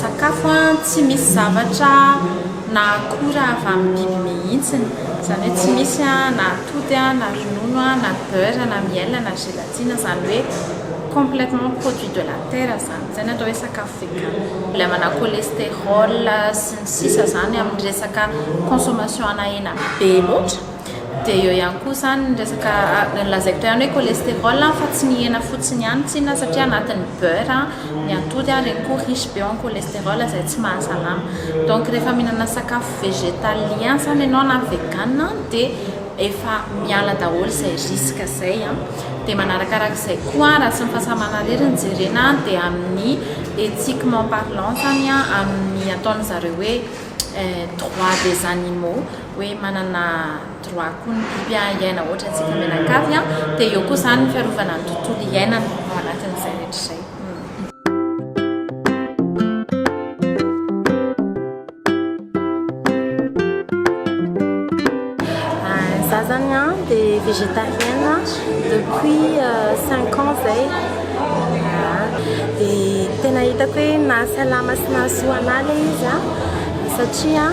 Sakafo tsy misy zavatra na akora avy amin'ny biby mihitsiny, izany hoe tsy misy na atody na ronono na beurre na miel na gelatine, izany hoe complètement produit de la terre izany, izay no atao hoe sakafo vegan, mbola manana cholesterol sy ny sisa izany amin'ny resaka consommation ana hena be loatra. Dia eo ihany koa izany ny resaka lazaiko teo ihany hoe cholestérol fa tsy ny hena fotsiny ihany tsinona satria anatin'ny beurre ny atody ireny koa riche be en cholestérol izay tsy mahasalama. Donc rehefa mihinana sakafo végétalien izany ianao na vegan dia efa miala daholo izay risque izay. Dia manarakaraka izay koa raha tsy ny fahasalamana irery no jerena dia amin'ny éthiquement parlant izany amin'ny ataon'izareo hoe droit des animaux. hoe manana droit koa ny biby hiaina hoatra antsika mianakavy an, dia eo koa izany ny fiarovana ny tontolo hiainana ao anatin'izay rehetra izay. des végétariennes depuis 5 euh, ans zay dia tena hitako hoe nahasalama sy nahasoa anà le izy a satria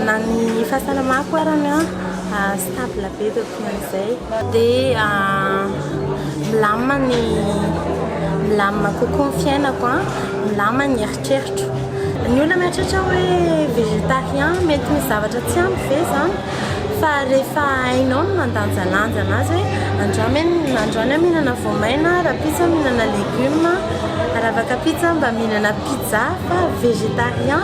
Na ny fahasalamako arany stable be dia ohatran'izay. Dia milamina ny, milamina kokoa ny fiainako, milamina ny eritreritro. Ny olona mieritreritra hoe végétarien mety misy zavatra tsy ampy ve izany? Fa rehefa hainao ny mandanjalanja an'azy hoe androany aho, androany aho mihinana voamaina, rahampitso aho mihinana légumes, raha vaka pizza aho mba mihinana pizza fa végétarien.